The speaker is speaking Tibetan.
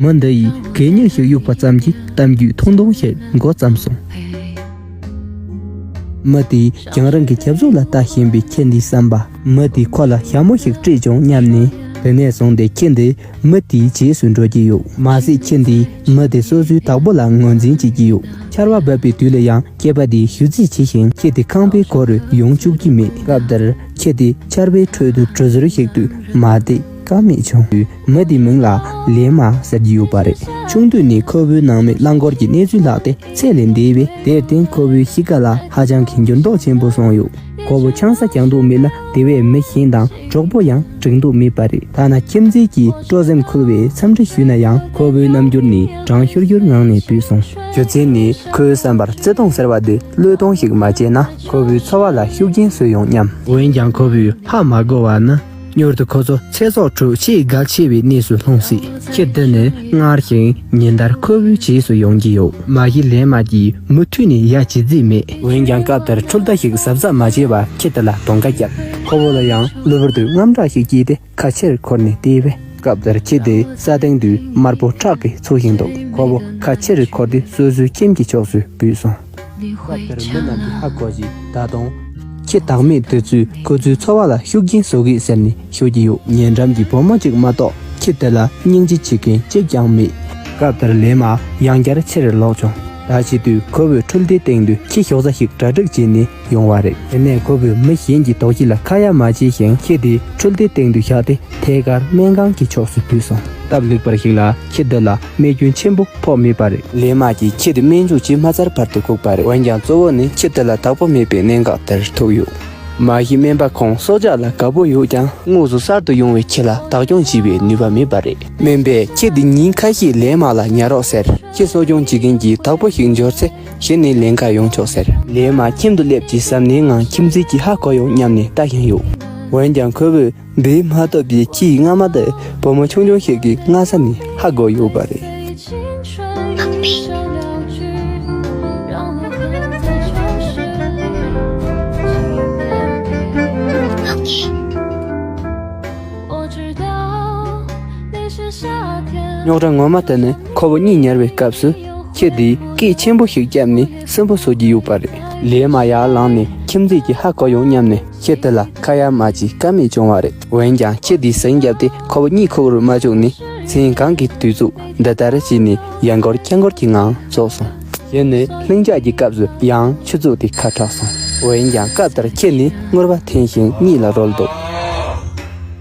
མི་འདི་ཡིས་གད་སྙིགས་ཤིག་གཡུགས་པ་ཙམ་གྱིས་གཏམ་རྒྱུད་ཐུང་ཐུང་ཞིག་མགོ་བརྩམས་སོང། མི་དེས་ཀྱང་རང་གི་ཁྱབ་བཟོ་ལ་ལྟ་བཞིན་པའི་ཁྱི་འདིའི་བསམ་པ། མི་དེས་ཁོ་ལ་ཞྭ་མོ་ཞིག་སྤྲད་བྱུང་སྙམ་ནས་དེ་ནས་བཟུང་སྟེ་ཁྱི་འདི་མི་དེའི་རྗེས་སུ་འགྲོ་གི་ཡོད། མ་ཟད་ཁྱི་འདིས་མི་དེ་སོ་སོའི་དག་པོ་ལ་ངོས་འཛིན་བྱེད་ཀྱི་ཡོད། ཆར་བ་འབབ་པའི་དུས་ལ་ཡང་སྐྱེས་པ་དེས་ཞུ་རྩིས་བྱས་ཤིང་ཁྱི་དེ་ཁང་པའི་སྒོ་རུ་ཡོང་བཅུག་གི་མེད། སྐབས་དེར་ཁྱི་དེ་ཆར་བའི་ཁྲོད་དུ་གྲུ་ཟུར་ཞིག་ཏུ་མ་བསྡད་ཀ་མེད་བྱུང། མི་དེའི་མིང་ལ་ལེ་མ་ཟེར་གྱི་ཡོད་པ་རེད། ཆུང་དུས་ནས་ཁོ་བོའི་ནང་མི་རླངས་འཁོར་གྱི་གནས་ཚུལ་ལྷག་དེ་ཚད་ལས་འདས་པས་དེར་བརྟེན་ཁོ་བོའི་གཤིས་ཀ་ལ་ཧ་ཅང་གི་འགྱུར་ལྡོག་ཆེན་པོ་སོང་ཡོད། ཁོ་བོ་ཆང་ས་གྱང་འདུག་མེད་ན་དེ་བས་མི་གཞན་དང་གྲོགས་པོ་ཡང་བསྒྲིགས་འདུག་མེད་པ་རེད། ཐ་ན་ཁྱིམ་མཚེས་ཀྱིས་སྤྲོ་སེམས་འཁོལ་བའི་འཚམས་འདྲི་ཞུས་ན་ཡང་ཁོ་བོའི་རྣམ་འགྱུར་ནི་གྲང་ཤུར་ཤུར་ངང་ནས་བུད་སོང། རྒྱུ་མཚན་ནི་ཁོའི་བསམ་པར་བརྩེ་དུང་ཟེར་བ་འདི་བློས་གཏོང་ཞིག་མ་བྱས་ན་ཁོ་བོའི་འཚོ་བ་ལ་ཤུགས་རྐྱེན་བཟོས་ཡོང་སྙམ། འོན་ཀྱང་ཁོ་བོས་ཧ་མ་གོ་བ་ནི། མྱུར་དུ་ཁོ་ཚོ་ཚེ་སྲོག་དྲུག་ཆེས་གལ་ཆེ་བའི་གནས་སུ་ལྷུང་སྲིད། ཁྱེད་འདི་ནས་སྔར་བཞིན་ཉིན་ལྟར་ཁོ་བོའི་རྗེས་སུ་ཡོང་གི་ཡོད། མ་གཞི་ལན་མ་གྱིས་མུ་མཐུད་ནས་ཡ་བྱེད་རྩིས་མེད། འོན་ཀྱང་སྐབས་དེར་འཕྲུལ་རྟ་ཞིག་གཟབ་གཟབ་མ་བྱས་པར་ཁྱེད་དེ་ལ་དོང་ཁ་བརྒྱབ། ཁོ་བོ་ལ་ཡང་གློ་བུར་དུ་རྔམ་སྐྲག་ཞིག་སྐྱེས་ཏེ་ཁ་ཕྱིར་འཁོར་ནས་བལྟས་པས་སྐབས་དེར་ཁྱེད་དེ་ས་སྟེང་དུ་དམར་པོ་ཁྲག་གིས་འཚུབ་བཞིན་འདུག་ཁོ་བོ་ཁ་ཕྱིར་འཁོར་ཏེ་སོ་སོའི་ཁྱིམ་གྱི་ཕྱོགས་སུ་བུད་སོང། སྐབས་དེར་མི་རྣམས་ཀྱིས་ཧ་གོ་ཞིང་བདག་དང། ཁྱི་བདག་མེད་དུས་ཚོད་ཁོ་ཚོའི་འཚོ་བ་ལ་ཤུགས་རྐྱེན་བཟོ་གི་ཟེར་ནས་ཤོད་ཀྱི་ཡོད། ཉེ་འགྲམ་གྱི་བུ་མོ་གཅིག་མ་གཏོགས་ཁྱི་དེ་ལ་སྙིང་རྗེ་བྱེད་མཁན་གཅིག་ཀྱང་མེད། སྐབས་དེར་ལས་མ་ཡང་བསྐྱར་ཕྱིར་ལོག་བྱུང། ད་བྱེད་དུས་ཁོ་བོས་འཕྲུལ་སྡེའི་སྟེང་དུ་ཁྱི་ཞོགས་རྫ་ཞིག་གྲ་སྒྲིག་བྱས་ནས། ཡོང་བ་རེད། དེ་ནས་ཁོ་བོས་མི་གཞན་གྱི་དོགས་གཞི་ལ་ཁ་ཡ་མ་བྱས་ཤིང་ཁྱི་དེ་འཕྲུལ་རྟའི་སྟེང་དུ་བཞག་སྟེ་ཐད་ཀར་སྨན་ཁང་གི་ཕྱོགས་སུ་བུད་སོང། སྟབས་ལེགས་པར་ཞིག་ལ་ཁྱི་འདི་ལ་རྨས་སྐྱོན་ཆེན་པོ་ཕོག་མེད་པ་རེད། ལས་དམག་གིས་ཁྱི་དེ་སྨན་བཅུག་བྱས་མ་ཚར་བར་དུ་བཀུག་པ་རེད། འོན་ཀྱང་གཙོ་བོ་ནི་ཁྱི་དེ་ལ་བདག་པོ་མེད་པའི་གནད་འགག་དེར་ཐུག་ཡོད། མ་གཞི་སྨན་པ་ཁོང་སྲོག་ཆགས་ལ་དགའ་པོ་ཡོད་ཀྱང་དངོས་སུ་གསར་དུ་ཡོང་བའི་ཁྱི་ལ་བདག་སྐྱོང་བྱེད་པའི་ནུས་པ་མེད་པ་རེད། སྨན་པས་ཁྱི་འདི་ཉིན་ཁ་ཤས་ལས་དམག་ལ་ཉར་རོགས་ཟེར། ཁྱི་གསོ་སྐྱོང་བྱེད་མཁན་གྱི་བདག་པོ་ཞིག་འབྱོར་ཚེ། གཞི་ནས་ལན་ཁ་ཡོང་ཆོག་ཟེར། ལས་མ་ཁྱིམ་དུ་སླེབས་ཀྱིས་གཟབ་ནན་ངང་ཁྱིམ་མཚེས་ཀྱིས་ཧ་གོ་ཡོང་སྙམ་ནས་ལྟ་བཞིན་ཡོད། འོན་ཀྱང་ཁོ་བོས་འབུད་མ་ཐུབ་པའི་ཁྱིའི་རྔ་མ་དེ་བུ་མོ་ཆུང་ཆུང་ཞིག་གི་སྔ་ས་ནས་ཧ་གོ་ཡོད་པ་རེད། རྙོག་དྲ་ངོ་མ་དེ་ནི་ཁོ་བོ་གཉིད་ཉལ་བའི་སྐབས་སུ། ཁྱེད་དེས་སྐད་ཆེན་པོ་ཞིག་བརྒྱབ་ནས་སུན་པོ་བཟོ་གི་ཡོད་པ་རེད། ལས་མ་ཡག་ལངས་ནས་ཁྱིམ་མཚེས་ཀྱི་ཧ་གོ་ཡོང་སྙམ་ནས་ཁྱེད་དེ་ལ་ཁ་ཡར་མར་གྱིས་ཀ་མེད་བྱུང་བ་རེད། འོན་ཀྱང་ཁྱེད་དེས་ཟིང་བརྒྱབ་སྟེ་ཁོ་བོ་གཉིད་ཁུག་རུ་མ་བཅུག་ནས་མཚན་གང་གི་དུས་ཚུགས་འདི་ལྟར་བྱས་ནས་ཡར་འགོར་སྐྱར་འགོར་གྱི་ངང་རྫོགས་སོང། གཞན་ནས་ལྷིང་འཇགས་ཀྱི་སྐབས་སུ་ཡང་ཆུ་བཙོ་སྟེ་ཁ་དྲགས་སོང། འོན་ཀྱང་སྐབས་དེར་ཁྱེད་ནི་སྔུར་བ་འཐེན་ཞིང་གཉིད་ལ་རོལ་འདུག།